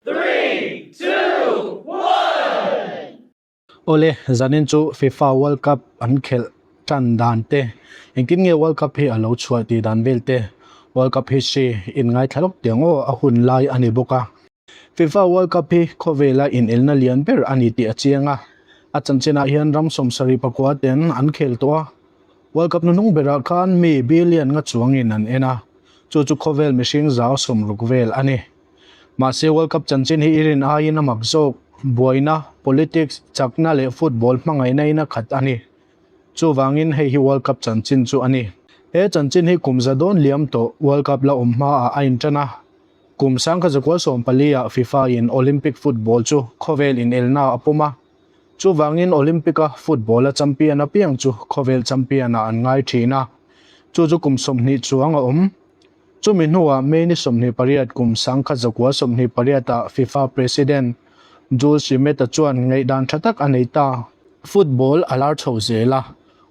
Three, two, one. Awle, zanin chu fifa world cup an khelh tan dan te, engtin nge world cup hi a lo chhuah tih dan vel te, world cup history in ngaithla lawk tiang aw a hun lai a ni bawk a. Fifa world cup hi khawvela inelna lian ber a ni tih a chiang a, a chanchinah hian ram sawm sarih pakua ten an khel tawh a, world cup hnuhnung berah khan mi billion nga chuangin an en a, chu chu khawvel mihring zau sawm ruk vel a ni. Mahse World Cup chanchin hi i rin aiin a mak zawk. Buaina, politics, chakna leh football hmangaihna ina khat a ni. Chuvangin hei hi World Cup chanchin chu a ni. He chanchin hi kum za dawn liam tawh World Cup la awm hmaah a inṭan a. Kum sang kha za kual sawm paliah FIFA-in Olympic football chu khawvel inelnaah a pawm a. Chuvangin Olympic-a football-a champion apiang chu khawvel champion-ah an ngai ṭhin a. Chu chu kum sawmhnih chuang a awm. Chumi hnuah May ni sawmhnih pariat kum sangkhat zakua sawmhnih pariatah Fifa President Jules Rimet-a chuan ngaihdan tha tak a nei ta. Football a lar chhoh zel a,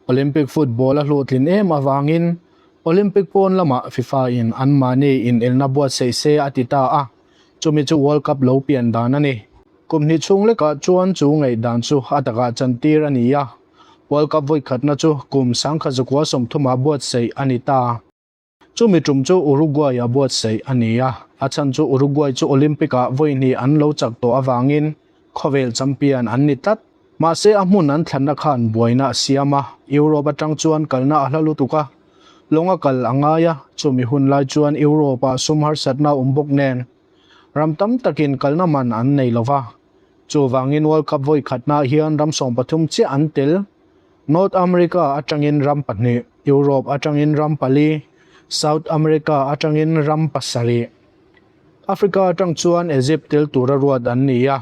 Olympic Football a hluthlin em avangin Olympic pawn lamah Fifa-in an mahni inelna buatsaih se a ti ta a, chumi chu World Cup lo pian dan a ni. Kum hnih chhung lekah chuan chu ngaihdan chu a takah chantir a ni a, World Cup vawikhatna chu kum sangkhat zakua sawmthumah buatsaih a ni ta. Chumi tum chu Uruguay-a buatsaih a ni a, a chhan chu Uruguay chu Olympic-ah vawihnih an lo chak tawh avangin khawvel champion an ni tlat. Mahse, a hmun an thlanna khan buaina a siam a, Europe atang chuan kalna a hla lutuk a, lawnga kal a ngai a, chumi hun lai chuan Europe-ah sum harsatna a awm bawk nen ram tam takin kalna man an nei lo va. Chuvangin World Cup vawikhatnaah hian ram sawmpathum chiah an tel North America atangin ram pahnih, Europe atangin ram pali, South America atangin ram pasarih, Africa atang chuan Egypt tel tura ruat an ni a,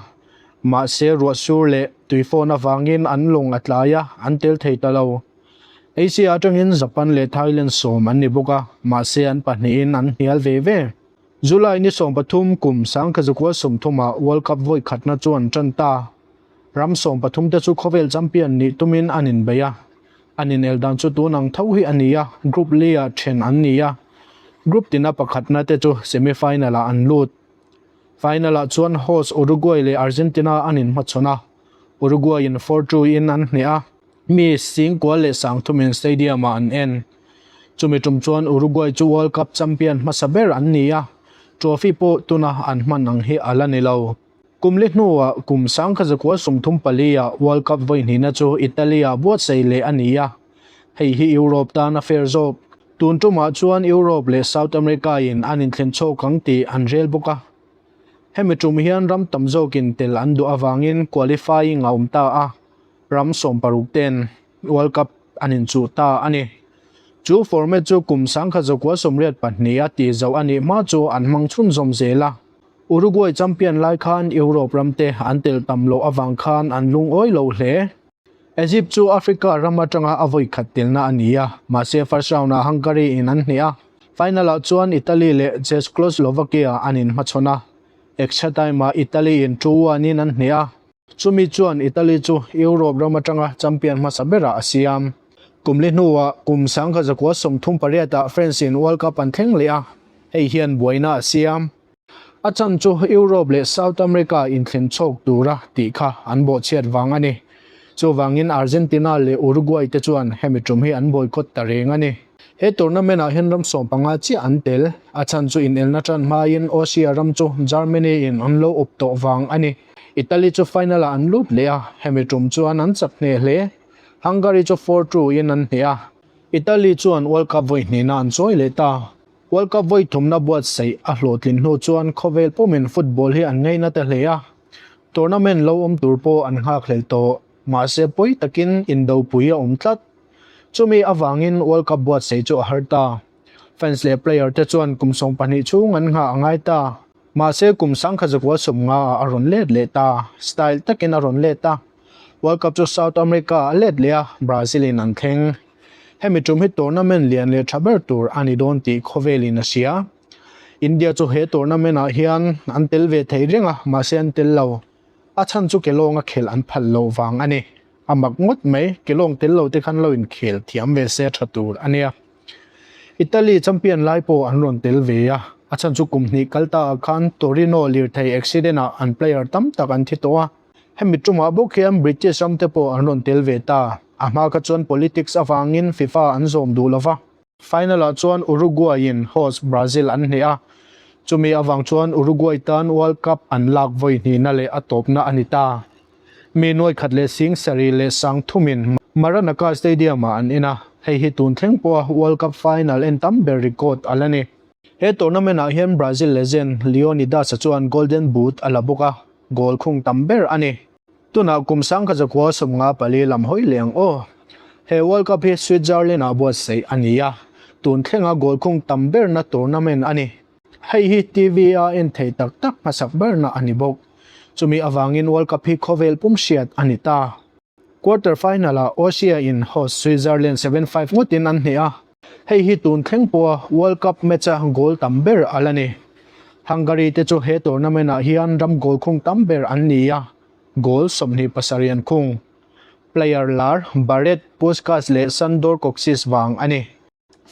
mahse ruah sur leh tuifawn avangin an lawng a tlai a, an tel thei ta lo. Asia atangin Japan leh Thailand sawm an ni bawk a, mahse an pahnihin an hnial ve ve. July ni sawmpathum kum Sangkhazakual sawmthumah World Cup vawikhatna chuan tan ta. Ram sawm pathum te chu khawvel champion nih tumin an inbeih a, an inel dan chu tun ang tho hi a ni a, Group Lia then an ni a, Group tina pakhatna te chu Semi Final ah an lut. Final ah chuan host Uruguay leh Argentina an inhmachhawn a, Uruguay in four two in an hneh a. Mi sing kual leh sang thum in stadium ah an en. Chumi tum chuan Uruguay chu World Cup champion hmasa ber an ni a, trophy pawh tuna an hman ang hi a la ni lo. Kum li hnua kum sang kha zakua sum thum palia World Cup vawihnihna chu Italia buatsaih leh a ni a, hei hi Europe tana fair zawk. Tun tumah chuan Europe leh South America-in an inthlen chhawk ang tih an rel bawk a. Hemi tum hian ram tam zawkin tel an duh avangin qualifying a awm ta a, ram sawm paruk ten World Cup an inchuh ta a ni. Chu format chu kum sang kha zakua sawmriat pahnih a tihzauh a nih hma chu an hmang chhunzawm zel a. Uruguay champion lai khan Europe ram te an tel tam loh avang khan an lungawi lo hle. Egypt chu Africa ram atanga a vawi khat telna a ni a, mahse first round ah Hungary in an hneh a, final ah chuan Italy leh Czechoslovakia an in hmachhawn a, extra time ah Italy in two one in an hneh a. Chumi chuan Italy chu Europe ram atanga champion hmasa berah a siam. Kumli hnuah kum sangha zakua sawm thum pariatah France in World Cup an thleng leh a, hei hian buaina a siam. A chhan chu Europe leh South America inthlen chhawk tura tih kha an bawhchhiat vang a ni. Chuvangin Argentina leh Uruguay te chuan hemi tum hi an boycott ta reng a ni. He tournament ah hian ram sawm panga chiah an tel. A chhan chu inelna tan hmain Austria ram chu Germany in an lo up tawh vang a ni. Italy chu final ah an lut leh a, hemi tum chuan an chak ngheh hle. Hungary chu four two in an hne a. Italy chuan World Cup vawi hnehna an chawi leh ta. World Cup vawi thumna buatsaih a hlawhtlin hnu chuan khawvel pawmin football hi an ngaihna ta hle a, tournament lo awm tur pawh an nghakhlel tawh. Mahse pawi takin indopui a awm tlat. Chumi avangin World Cup buatsaih chu a har ta. Fans leh player te chuan kum sawm pahnih chhung an nghah a ngai ta. Mahse, kum sangkhat zakua sawm nga ah a rawn let leh ta. Style takin a rawn let a. World Cup chu South America ah a let leh a, Brazil in an thleng. Hemi tum hi tournament lian leh tha ber tur a ni dawn tih khawvelin a hria. India chu he tournament ah hian an tel ve thei reng a, mahse an tel lo. A chhan chu Kelawnga khel an phal loh vang a ni. A mak ngawt mai, Kelawng tel lo te khan lo inkhel thiam ve se tha tur a nia. Italy champion lai pawh an rawn tel ve a. A chhan chu kum hnih kal ta ah khan Torino lirthei accident ah an player tam tak an thi tawh a. Hemi tumah bawk hian British ram te pawh an rawn tel ve ta. A hma kha chuan politics avangin Fifa an zawm duh lo va. Final ah chuan Uruguay-in host Brazil an hnih a, chumi avang chuan Uruguay tan World Cup an lak vawi hnihna leh a tawpna a ni ta. Mi nuai khat leh sing sarih leh sang thumin Maranaca Stadium ah an en a, hei hi tun thleng pawha World Cup final en tam ber record a la ni. He tournament ah hian Brazil legend Leonidas-a chuan Golden Boot a la bawk a, goal khung tam ber a ni. Tunah kum sangkhat zakua sawm nga pali lam hawi leh ang aw. He World Cup hi Switzerland-a buatsaih a ni a, tun thlenga goal khung tam berna tournament a ni. Hei hi TV-a en thei tak tak hmasak berna a ni bawk. Chumi avangin World Cup hi khawvel pum hriat a ni ta. Quarter final-ah Austria-in host Switzerland seven five ngawtin an hneh a. Hei hi tun thleng pawha World Cup match-a goal tam ber a la ni. Hungary-te chu he tournament-ah hian ram goal khung tam ber an ni a, goal sawmhnih pasarhian khung. Player lar, Barret, Puskas leh Sandor Kocsis vang a ni.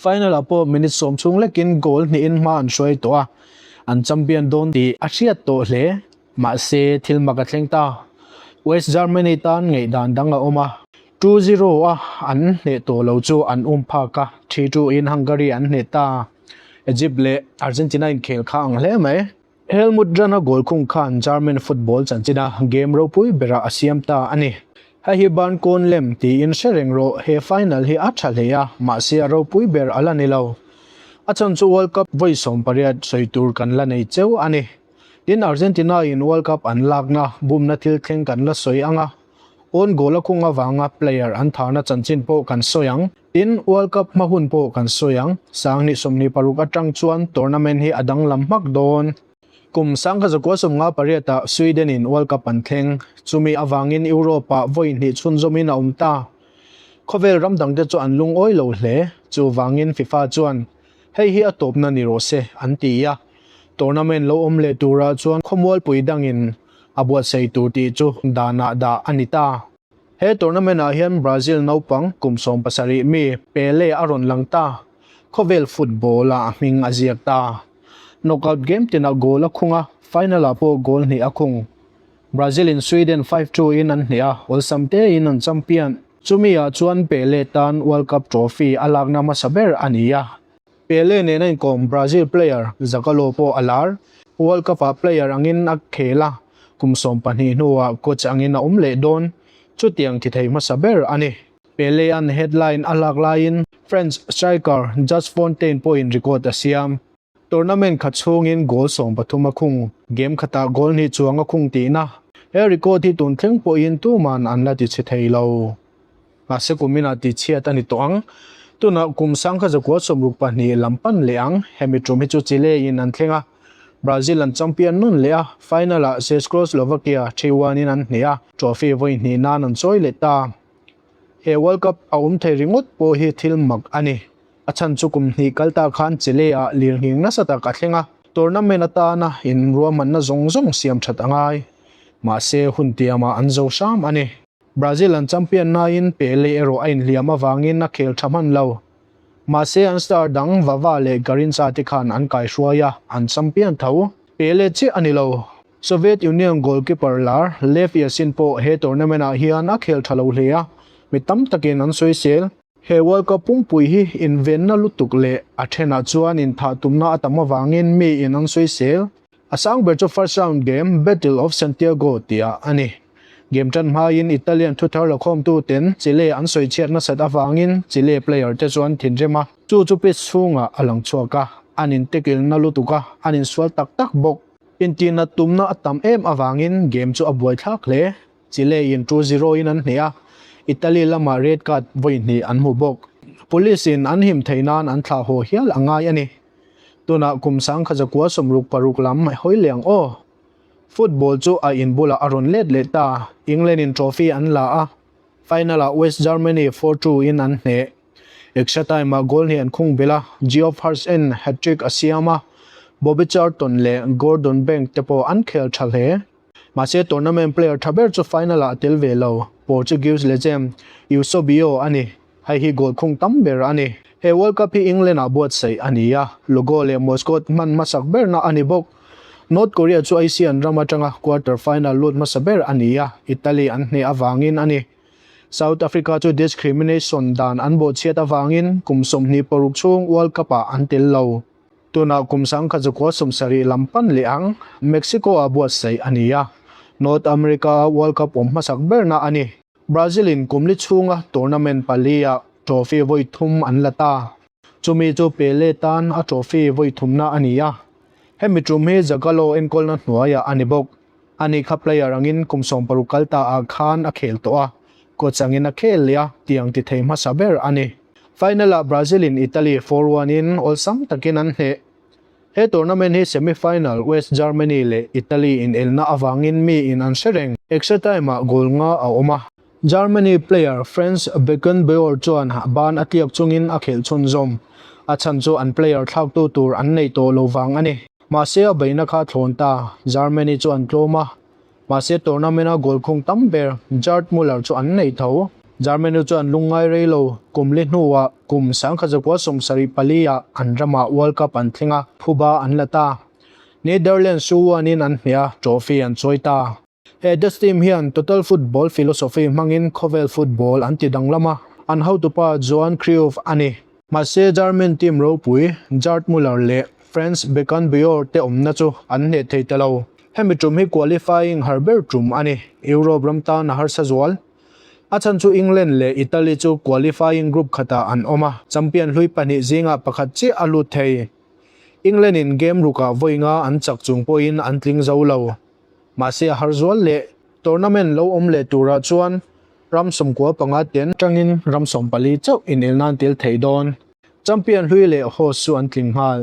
Final-ah pawh minute sawm chhung lekin goal hnihin hma an hruai tawh a, an champion dawn tih a hriat tawh hle. Mahse, thil mak a thleng ta. West Germany tan ngeih dan dang a awm a. Two zero a an hneh tawh lo chu an um phak a, three two in Hungary an hneh ta. Egypt leh Argentina inkhel kha ang hle mai. Helmut Jahn-a goal khung khan German football chanchinna game ropui berah a siam ta a ni. Hei hi ban kawn lem tiin hre reng rawh, he final hi a tha hle a, mahse a ropui ber a la ni lo. A chhan chu World Cup vawi sawmpariat sawi tur kan la nei cheu a ni. Tin, Argentina-in World Cup an lakna bumna thil thleng kan la sawi ang a, own goal a khung avanga player an thana chanchin pawh kan sawi ang. Tin, World Cup hma hun pawh kan sawi ang. Sanghnih sawmhnih paruk atang chuan tournament hi a danglam hmak dawn. Kum sangha zakua sawmnga pariatah Sweden-in World Cup an thleng. Chumi avangin Europe-ah vawihnih chhunzawmin a awm ta. Khawvel ram dangte chu an lungawi lo hle. Chuvangin Fifa chuan Hei hi a tawpna ni rawh se, an ti a. Tournament lo awm leh turah chuan khawmualpui dangin a buatsaih tur tih chu danah dah a ni ta. He tournament ah hian Brazil naupang kum sawm pasarih mi Pele a rawn lang ta. Khawvel football ah hming a ziak ta. Knockout game tinah goal a khung a, final ah pawh goal hnih a khung. Brazil in Sweden five two in an hnih a, awlsam tein an champion. Chumi ah chuan Pele tan World Cup Trophy a lakna hmasa ber a ni a. Pele nena inkawm Brazil player Zagallo pawh a lar. World Cup ah player angin a khel a, kum sawm pahnih hnuah coach angin a awm leh dawn. Chutiang thi thei hmasa ber a ni. Pele-a'n headline a lak laiin French striker Just Fontaine pawhin record a siam. Tournament khat chhungin goal sawm pathum a khung, game khatah goal hnih chuang a khung tihna, he record hi tun thleng pawhin tuman an la ti chhe thei lo. Mahse kumina tichhiat a ni tawh ang. Tunah kum sang kha zakua sawm ruk pahnih lam pan leh ang, hemi ṭum hi chu chi leiin an thleng a. Brazil an champion nawn leh a, final ah Czechoslovakia ṭhi uan in an hne a, trophy vawi hnih nan an chawi leh ta. He World Cup a awm thei ringawt pawh hi thil mak a ni. A chhan chu kum hnih kal ta khan Chile ah lirnghing nasa tak a thleng a, tournament atana inruahmanna zawng zawng siam that a ngai. Mahse, hun tiam ah an zo hram a ni. Brazil an champion naiin Pele erawh a inhliam avangin a khel tha hman lo. Mahse, an star dang Vava leh Garincha te khan an kaihruai a, an champion tho. Pele chiah a ni lo. Soviet Union goalkeeper lar Lev Yashin pawh he tournament ah hian a khel tha lo hle a, mi tam takin an sawi sel. He World Cup pumpui hi invenna lutuk leh a thenah chuan inthah tumna a tam avangin miin an sawi sel. A sang ber chu first round game Battle of Santiago tia a ni. Game tan hmaiin Italian thu thar la khawmtuten Chile an sawi chhiat nasat avangin Chile player te chu an thinrim a. Chu chu pitch chhungah a lang chhuak a, an in tackle-na lutuk a, an insual tak tak bawk. Intina tumna a tam em avangin game chu a buai thlak hle. Chilein two zero in an hneh a, Italy lama red card vawi hnih an hmu bawk. Policein an him theih nan an thlah haw hial a ngai a ni. Tunah kum Sangkhazakua sawmruk paruk lam a hawi liang aw. Football chu a in bulah a rawn let leh ta. Englandin trophy an la a, final-ah West Germany four two in an hneh. Extra time-ah goal hnih an khung belh a, Geoff Hartsen hat-trick a siam a, Bobby Charlton leh Gordon Banks te pawh an khel tha hle. Mahse, tournament player tha ber chu final ah a tel ve lo. Portuguese legend Eusebio a ni. Hei hi goal khung tam ber a ni. He World Cup hi England ah buatsaih a ni a, Lugo leh Moscot hman hmasak berna a ni bawk. North Korea chu Asian ram atanga quarter final lut hmasa ber a ni a, Italy an hneh avangin a ni. South Africa chu discrimination dan an bawhchhiat avangin kum sawmhnih paruk chhung World Cup ah an tel lo. Tunah kum sang kha chu khuasum sarih lam pan leh ang Mexico-a buatsaih a ni a, North America-a World Cup awm hmasak berna a ni. Brazil-in kumli chhunga tournament palia trophy vawi thum an la ta. Chumi chu Pele tan a trophy vawi thumna a ni a, hemi tum hi Zagallo enkawlna hnuaiah a ni bawk. A nih kha player angin kum sawm paruk kal ta ah khan a khel tawh a, coach angin a khel leh a tiang ti thei hmasa ber a ni. Final ah Brazil in Italy four one in awlsam takin an hneh. He tournament hi semi final West Germany leh Italy inelna avangin mi in an hre reng. Extra time ah goal nga a awm a. Germany player Franz Beckenbauer chuan ban a tliak chungin a khelh chhunzawm a chhan chu an player thlaktu tur an neih tawh lo vang a ni. Mahse a beihna kha a thlawn ta, Germany chu an tlawm a, mahse tournament a goal khung tam ber Gerd Muller chu an neih tho. Germany chu an lung ngai rei lo, kumli hnuah kum sangkhat zakua sawm sarih paliah an ramah World Cup an thleng a, phuba an la ta. Netherlands chu uanin an hmeh a, trophy an chawi ta. He Death Team hian Total Football philosophy hmangin khawvel football an ti danglam a, an hotupa Johan Cruyff a ni. Mahse, German team ropui Gerd Muller leh Franz Beckenbauer te awmna chu an hneh thei ta lo. Hemi ṭum hi qualifying har ber ṭum a ni, Europe ram tan a harsa zual. A chhan chu England leh Italy chu qualifying group khatah an awm a, champion hlui pahnih zingah pakhat chiah a lut thei. England-in game rukah vawi nga an chak chung pawhin an tling zo lo. Mahse a har zual leh tournament lo awm leh turah chuan ram sawmkua panga ten tangin ram sawm pali chauh inel nan tel thei dawn. Champion hlui leh host chu an tling nghal.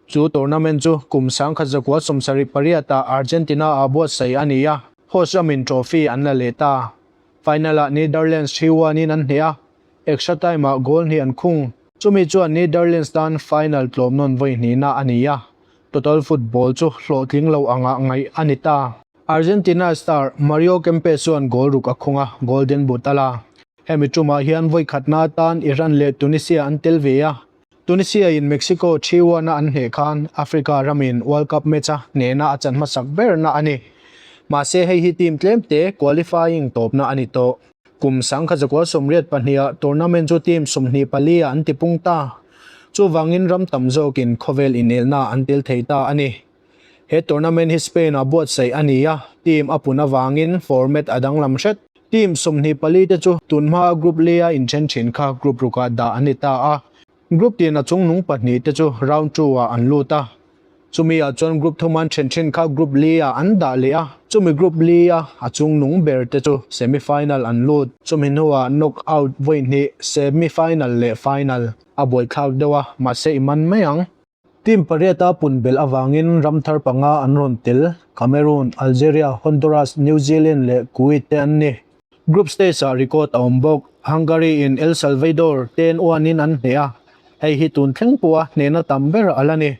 Chu tournament chu kum sangkhat zakua sawmsarih pariata Argentina a buatsaih a ni a, host ram in trophy an la leh ta. Final ah Netherlands thi huanin an hneh a, extra time ah goal hnih an khung. Chumi chuan Netherlands tan final tlawm nawn vawi hnihna a ni a, Total football chu hlawhtling lo angah ngaih a ni ta. Argentina star Mario Kempes chuan goal ruk a khung a, Golden Boot a la. Hemi tumah hian vawikhatna atan Iran leh Tunisia an tel ve a. Tunisia-in Mexico three one a an hneh khan Africa ramin World Cup match a hnehna a chan hmasak berna a ni. Mahse hei hi team tlemte qualifying tawpna a ni tawh. Kum sangkhat zakual sawmriat pahniha tournament chu team sumhnih palia an tipung ta. Chuvangin ram tam zawkin khawvel inelna an tel thei ta a ni. He tournament hi Spain-a buatsaih a ni a, team a pun avangin format a danglam hret. Team sumhnih palite chu tunhma group leia inthen thin kha group rukah dah an ni ta a. Group tin a chung nung pahnih te chu round two ah an lut a, chumi ah chuan group thawman then thin kha group li ah an dah leh a, chumi group li a a chung nung ber te chu semi final an lut. Chumi hnuah knock out vawi hnih, semi final leh final, a buaithlak deuh a, mahse i man mai ang. Team pariata pun belh avangin ram thar panga an rawn tel, Cameroon, Algeria, Honduras, New Zealand leh Kuwait te an ni. Group stage-ah record a awm bawk, Hungary-in El Salvador te'n uanin an hneh a, hei hi tun thleng pawha hnehna tam ber a la ni.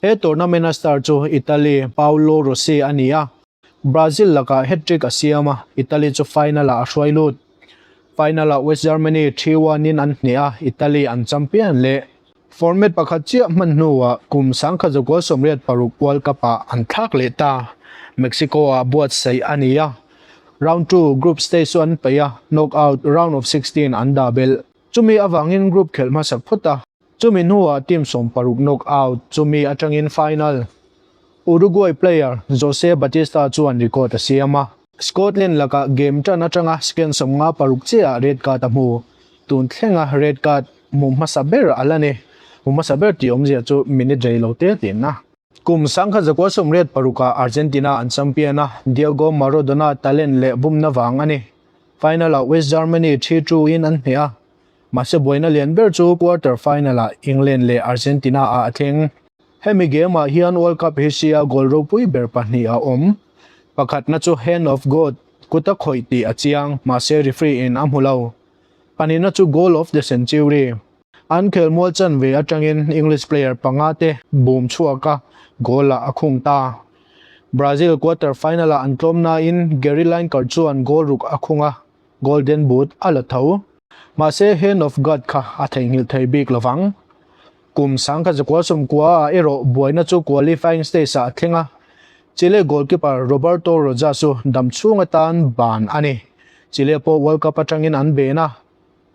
He tournament-a star chu Italy Paolo Rossi a ni a, Brazil lakah hat-trick a siam a, Italy chu final-ah a hruai lut. Final-ah West Germany three one in an hneh a, Italy an champion leh. Format pakhat chiah hman hnuah kum sangkhat zakual sawmriat paruk World Cup-ah an thlak leh ta, Mexico-ah buatsaih a ni a. Round two group stage chu an peih a, knock out round of sixteen an dah belh. Chumi avangin group khelh hmasak phawt a. Chumi hnuah team sawm paruk knock out chu mi atangin final Uruguay player Jose Batista chuan record a siam a. Scotland laka game tan atanga second sawm nga paruk chiaha red card a hmu tun thlenga red card hmu hmasa ber a la ni. Hmu hmasa ber tih awmzia chu min i dei lo tel teh na. Kum sang kha zakua sawm red paruka Argentina an champion a, Diego Maradona talent leh bumna vang a ni. Final ah West Germany three two in an hmeh a, Mahse buaina lian ber chu quarter final-ah England leh Argentina-ah a thleng. Hemi game-ah hian World Cup Asia goal ropui ber pahnih a awm. Pakhatna chu Hand of God, Kut a khawih tih a chiang, mahse referee-in a hmu lo. Panina chu Goal of the Century. An khel mual chan ve atangin English player panga te bum chhuak a, goal-ah a khung ta. Brazil quarter final-ah an tlawm nain Gary Lineker chuan goal ruk a khung a, Golden Boot a la tho. Mahse, Hand of God kha a theihnghilh thei bik lo vang. Kum sang kha Zakual Sumkuaa erawh buaina chu qualifying stage-ah a thleng a, chile goalkeeper Roberto Rojas-u dam chhung atan ban a ni. Chile pawh World Cup atangin an ben a,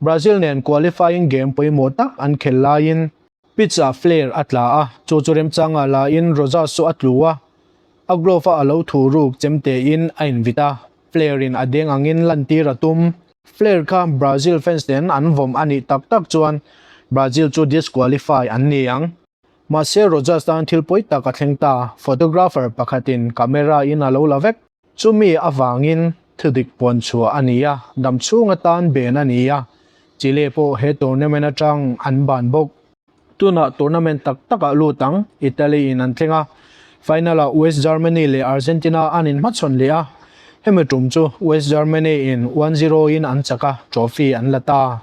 Brazil nen qualifying game pawimawh tak an khel laiin, Pitch ah flare a tla a, chu chu remchanga lahin Roza Suh a tlu a, a glove a a lo thu ruk chem tein a invit a, flare in a deng angin lantir a tum. Flare kha Brazil fans nen an vawm a nih tak tak chuan Brazil chu disqualify an ni ang. Mahse Roza tan thil pawi tak a thleng ta, photographer pakhatin camera in a lo la vek. Chumi avangin thudik puan chhuah a ni a, damchhung atan ben a ni a, Chile pawh he tournament atang an ban bawk. Tunah tournament tak takah lut ang Italy in an thleng a, final ah West Germany leh Argentina an in hmachhawn leh a, hemi tum chu West Germany in one zero in an chak a, trophy an la ta.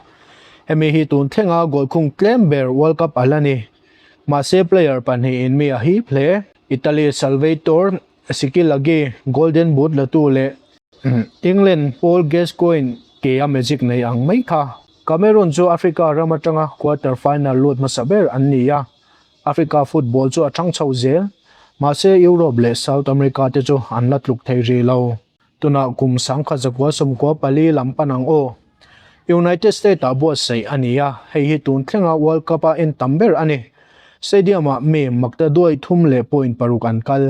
Hemi hi tun thlenga goal khung tlem ber World Cup a la ni, mahse player pahnih in mi a hip hle. Italy Salvator Sikil Agee, Golden Boot latu leh England Paul Gascoigne ke a magic nei ang mai kha. Cameroon chu Africa ram atanga quarter final lut hmasa ber an ni a, Africa football chu a chhang chho zel. Mahse Europe leh South America te chu an la tluk thei rilo. Tunah kum sangkhat zakua sawmkua pali lam pan ang aw. United States ah buatsaih a ni a, hei hi tun thlenga World Cup a en tam ber a ni. Stadium ah mi makta duai thum leh point paruk an kal.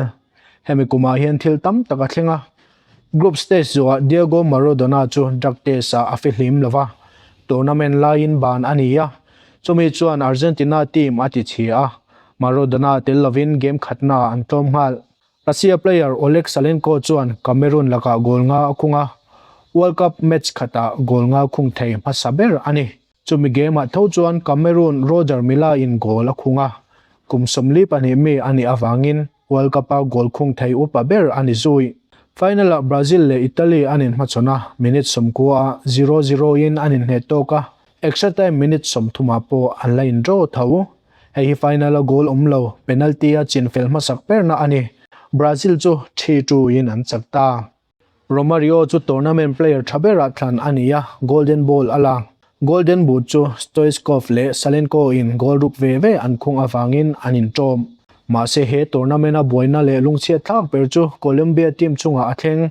Hemi kumah hian thil tam tak a thleng a. Group stage zawhah Diego Maradona chu drug test ah a fe hlim lova, tournament laiin ban a ni a, chumi chuan Argentina team a tichhia. Maradona tel lovin game khatnaah an tlawm nghal. Russia player Oleg Salenko chuan Cameroon lakah goal nga a khung a, World Cup match khatah goal nga khung thei hmasa ber a ni. Chumi game-ah tho chuan Cameroon Roger Milla-in goal a khung a, kum sawmli pahnih mi a nih avangin World Cup-a goal khung thei upa ber a ni zuih. Final-ah Brazil leh Italy an inhmachhawn a, minute sawmkuaah zero-zero-in an inhnet tawk a, Extra time minute sawmthumah pawh an la in draw tho. Hei hi final a goal awm lo, penalty a chin fel hmasak berna a ni. Brazil chu three two in an chak ta. Romario chu tournament player tha berah thlan a ni a, Golden Ball a la. Golden Boot chu Stoichkov leh Salenko in goal ruk ve ve an khung avangin an in tawm. Mahse he tournament a buaina leh lungchhiatthlak ber chu Colombia team chungah a thleng.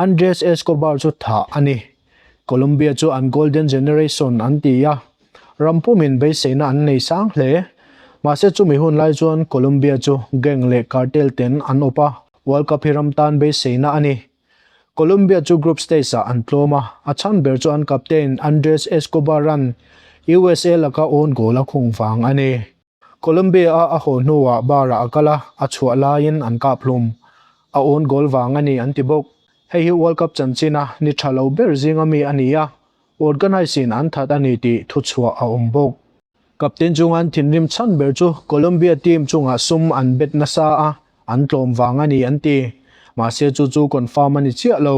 Andres Escobar chu thah a ni. Colombia chu an Golden Generation an ti a, ram pumin beiseina an nei sang hle. Mahse chumi hun lai chuan Colombia chu gang leh cartel ten an awp a, World Cup hi ram tan beiseina a ni. Colombia chu group stage ah an tlawm a, a chhan ber chu an captain Andres Escobar-an USA laka own goal a khung vang a ni. Colombia-a a haw hnuah bar-ah a kal a, a chhuah laiin an kap hlum. A own goal vang a ni an ti bawk. Hei hi World Cup chanchin-a ni tha lo ber zinga mi a ni a, organise-in an that a ni tih thuchhuah a awm bawk. Captain chunga an thinrim chhan ber chu Colombia team chungah sum an bet nasa a, an tlawm vang a ni an ti. Mahse chu chu confirm a ni chiah lo.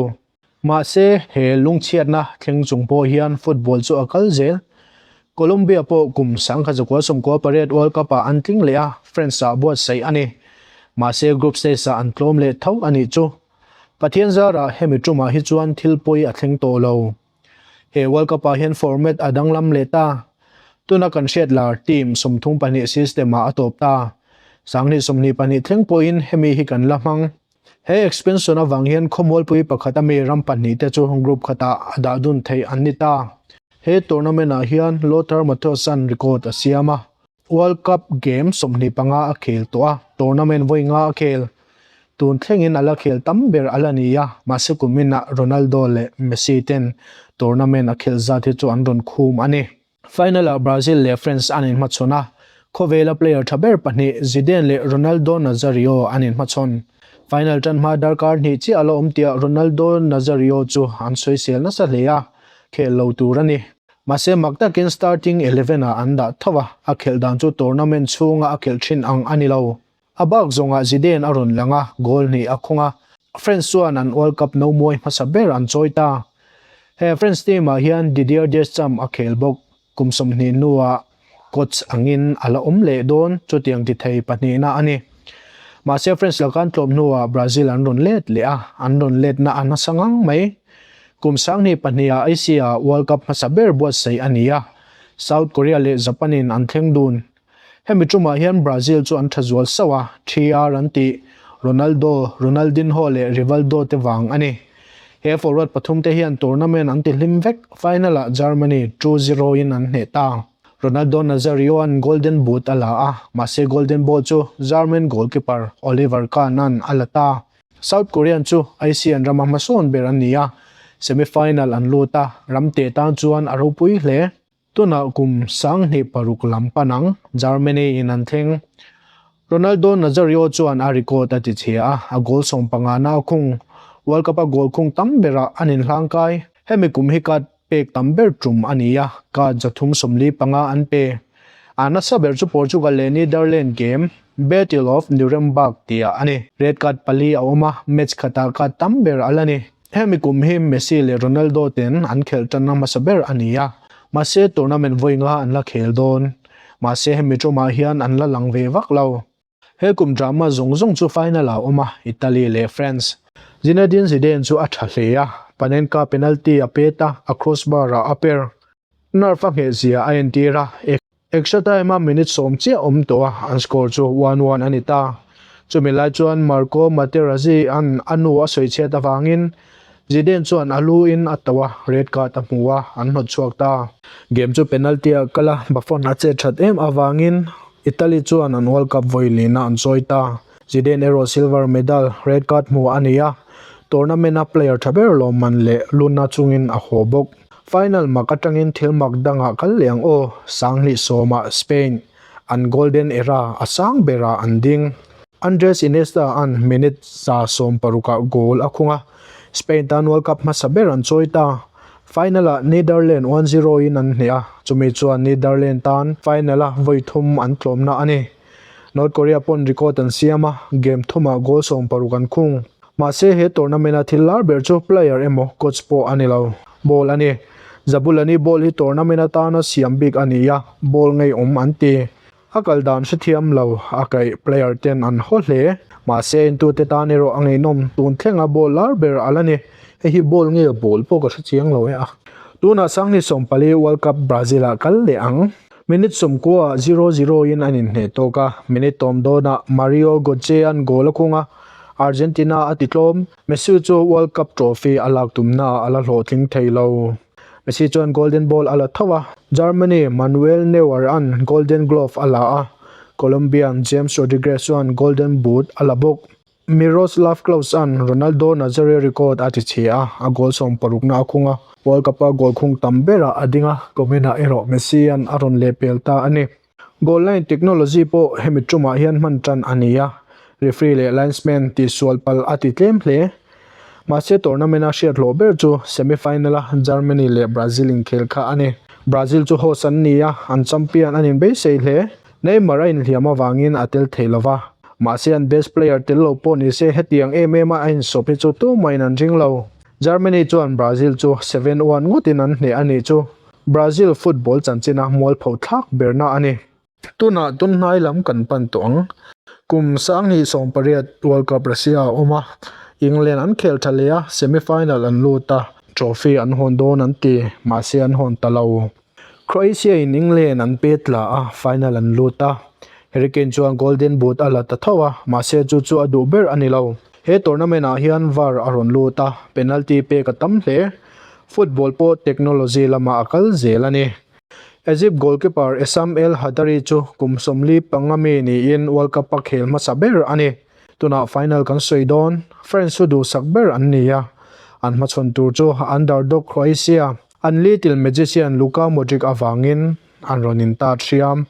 Mahse, he lungchhiatna thleng chung pawh hian football chu a kal zel. Colombia pawh kum sangkhat zakua Sawmkua Parade World Cup-ah an tling leh a, France-ah buatsaih a ni. Mahse, group stage-ah an tlawm leh tho a nih chu. Pathianzara hemi tumah hi chuan thil pawi a thleng tawh lo. He World Cup-ah hian format a danglam leh ta. Tuna kan hriat lar, team, sawmthum pahnih system-ah a tawp ta. Sanghnih sawmhnih pahnih thleng pawhin hemi hi kan la hmang. He expansion avang hian khawmualpui pakhat a mi ram pahnih te chu group khatah a dahdun theih an ni ta. He tournament ah hian Lothar Mattheusan record a siam a, World Cup game sawmhnih panga a khel tawh a, tournament vawi nga a khel. Tun thlengin a la khel tam ber a la ni a, mahse kum inah Ronaldo leh Messi ten tournament a khelh zat hi chu an rawn khum a ni. Final ah Brazil leh France an inhmachhawn a, khawvela player tha ber pahnih Zidane leh Ronaldo Nazario an inhmachhawn. Final tan hma darkar hnih chiah a la awm tia Ronaldo Nazario chu an sawisel nasa hle a, khel lo tur a ni. Mahse mak takin starting eleven ah an dah tho a, a khelh dan chu tournament chhunga a khelh thin ang a ni lo. A bak zawngah Zidane a rawn lang a, goal hnih a khawng a. France chuan an World Cup nomuai hmasa ber an chawi ta. He France team-ah hian Didier Deschamps a khel bawk. Kum sawmhnih hnuah coach angin a la awm leh dawn chutiang ti thei pahnihna a ni. Mahse France la kan tlawm hnuah Brazil an rawn let leh a, an rawn letna a nasa ngang mai. Kum sanghnih pahniha Asia World Cup hmasa ber buatsaih a ni a, South Korea leh Japan-in an thleng dun Hemi ṭumah hian Brazil chu an ṭha zual sauh a, ṭhiar an ti Ronaldo, Ronaldinho leh Rivaldo te vang a ni. He forward pathum te hian tournament an ti hlim vek, final ah Germany two zero in an hneh ta. Ronaldo Nazario-a'n Golden Boot a la a, mahse Golden Ball chu German goalkeeper Oliver Kahn-a'n a la ta. South Korea-a'n chu Asian rama hmasawn ber an ni a, semi final an lut a, ram teh tan chuan a ropui hle. Tunah kum sanghnih paruk lam pan ang Germany in an thleng. Ronaldo Nazario chuan a record a tichhia a, a goal sawm panga nau khung, World Cup a goal khung tam bera an inhlangkai. Hemi kum hi card pek tam ber tum a ni a, card za thum sawmli panga an pe. A nasa ber chu Portugal leh Netherlands game, Battle of Nuremberg tia a ni. Red card pali a awm a, match khatah card tam ber a la ni. Hemi kum hi Messi leh Ronaldo ten an khelh tanna hmasa ber a ni a, mahse tournament vawi nga an la khel dawn. Mahse hemi tawmah hian an la lang ve vak lo. He kum drama zawng zawng chu final ah a awm a, Italy leh France. Zinedine Zidane chu a tha hle a, Panenka penalty a pet a, a crossbar ah a per. Nerf a nghehzia a entir a. Extra time-a minute sawm chiah awm tawha an score chu one one a ni ta. Chumi lai chuan Marco Materazzi-a'n a nu a sawi chhiat avangin Zidane chuan a luin a tauha red card a hmu a, an hnawt chhuak ta. Game chu penalty-a kala Buffon a chet that em avangin Italy chuan an World Cup vawi lina an sawi ta. Zidane erawh silver medal, red card hmuh a ni a, tournament-a player tha ber lawmman leh lunna chungin a haw bawk. Final mak atangin thil mak dangah kal leh ang aw, Sanghnih sawma Spain an golden era a sang berah an ding. Andres Iniesta-a'n minute za sawm parukah goal a khung a, Spain tan World Cup hmasa ber an chawi ta. Final-a Netherlands one zero-in an hnih a, chumi chuan Netherlands tan final-a vawi thum an tlawmna a ni. North Korea paw'n record an siam a, game thumah goal sawm paruk an khung. Mahse, he tournament-a thil lar ber chu player emaw coach pawh a ni lo. Ball a ni. Zabulani ball hi tournament atana siam bik a nia, ball ngei awm an ti. A kal dan hrethiam lo a kaih player ten an haw hle. Mahse, entute tan erawh a ngeihnawm tun thlenga ball lar ber a la ni. Hei hi ball nge ball pawh ka hre chiang lo e a. Tunah sanghnih sawmpali World Cup Brazil-ah kal leh ang. Minute sawmkua ah zero zero in an inhneh tawk a, minute tawm dawn ah Mario Gotze an goal a khung a, Argentina a titlawm. Messi chu World Cup trophy a lak tumna ah a la hlawhtling thei lo. Messi chuan Golden Ball a la tho a, Germany Manuel Neuer an Golden Glove a la a, Colombia James Rodriguez chuan Golden Boot a la bawk. Miroslav Klose-a'n Ronaldo Nazario record a tichhe a, a goal sawm parukna a khung a. World Cup-a goal khung tam berah a ding a, comment-ah erawh Messi-a'n a rawn leh pel ta a ni. Goal line technology pawh hemi tumah hian hman tan a ni a, referee leh linesman tih sual pal a ti tlem hle. Mahse tournament-a hriathlawh ber chu semi final-a Germany leh Brazil inkhel kha a ni. Brazil chu host an ni a, an champion anin beisei hle. Neymar a inhliam avangin a tel thei lova, mahse an best player tel lo pawh ni se hetiang em em a a insawp hi chu tumain an ring lo. Germany chuan Brazil chu seven one ngawtin an hneh a nih chu, Brazil football chanchina mualpho thlak berna a ni. Tunah tun hnai lam kan pan tawh ang. Kum sang hnih sawm pariat World Cup Russia a awm a, England an khel tha leh a, semi final an lut a, trophy an hawn dawn an ti, mahse an hawn ta lo. Croatia-in England an pe tla a, final an lut a. Harry Kane chuan Golden Boot a la ta tho a, mahse chu chu a duh ber a ni lo. He tournament-ah hian var a rawn lut a, penalty pek a tam hle. Football pawh technology lama a kal zel a ni. Egypt goalkeeper Essam El Hadary chu kum sawmli panga mi niin World Cup a khel hmasa ber a ni. Tunah final kan sawi dawn, France chu duhsak ber an ni a, an hmachhawn tur chu underdog Croatia An litil magician Luka Modric avangin an rawn in ta thiam.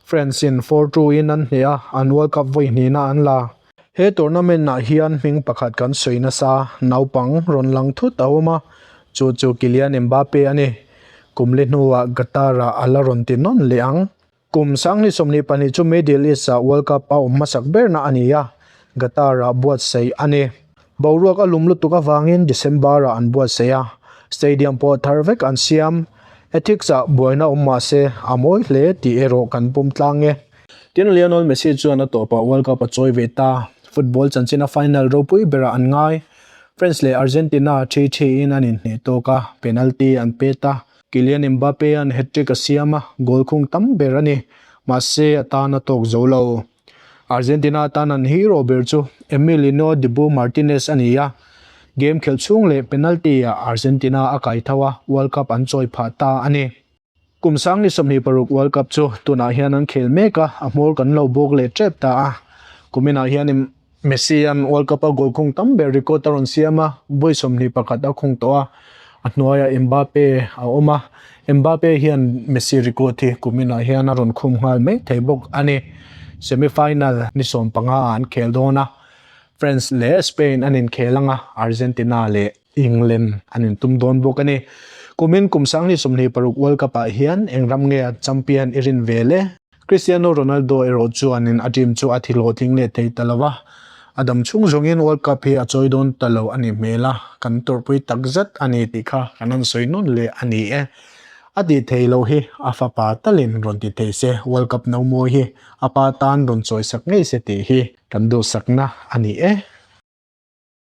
France-in four two in an hneh a, an World Cup vawi hnihna an la. He tournament-ah hian hming pakhat kan sawi nasa naupang rawn lang thut a awm a, chu chu Kylian Mbappe a ni. Kum li hnuah Qatar-ah a la rawn ti nawn leh ang. Kum Sangni sawmhnih pahnih chu Middle East-ah World Cup a awm hmasak berna a ni a, Qatar-ah buatsaih a ni. Boruak a lum lutuk avangin December-ah an buatsaih a, stadium pawh thar vek an siam. Ethics-ah buaina a awm mah se, a mawi hle tih erawh kan pawm tlang e. Tin, Lionel Messi chuan a tawpah World Cup a chawi ve ta. Football chanchina final ropui berah an ngai. France leh Argentina ṭhi ṭhiin an inhneh tawk a, penalty an pet a. Kylian Mbappe-a'n hat-trick a siam a, goal khung tam ber a ni. Mahse, a tan a tawk zo lo. Argentina atan an hero ber chu Emiliano Dibu Martinez a ni a. Game khelh chhung leh penalty-ah Argentina a kai tho a, World Cup an chawi phah ta a ni. Kum Sangni sawmhnih paruk World Cup chu tunah hian an khel mek a, a hmawr kan lo bawk leh tep ta a. Kuminah hian. Messi hian World Cup a goal khung tam ber record a rawn siam a, buai sawmhnih pakhat a khung tawh a. A hnuaiah Mbappe a awm a, Mbappe hian Messi record hi kuminah hian a rawn khum nghal mai thei bawk a ni. Semi final ni sawm pangaah an khel dawn a, France leh Spain an inkhel ang a, Argentina leh. England an intum dawn bawk a ni. Kumin kum sang ni sawmhnih paruk World Cup ah hian eng ram nge an champion i rin ve le? Cristiano Ronaldo erawh chuanin a team chu a thi hlawhtling leh thei ta lo a, a dam chhung zawngin World Cup hi a chawi dawn ta lo a nih hmel a, kan tawrhpui tak zat a ni tih kha kan han sawi nawn leh a ni e. A tih thei lo hi a fapa talin rawn ti thei se, World Cup no mawi hi a pa tan rawn chawisak ngei se tih hi kan duhsakna a ni e.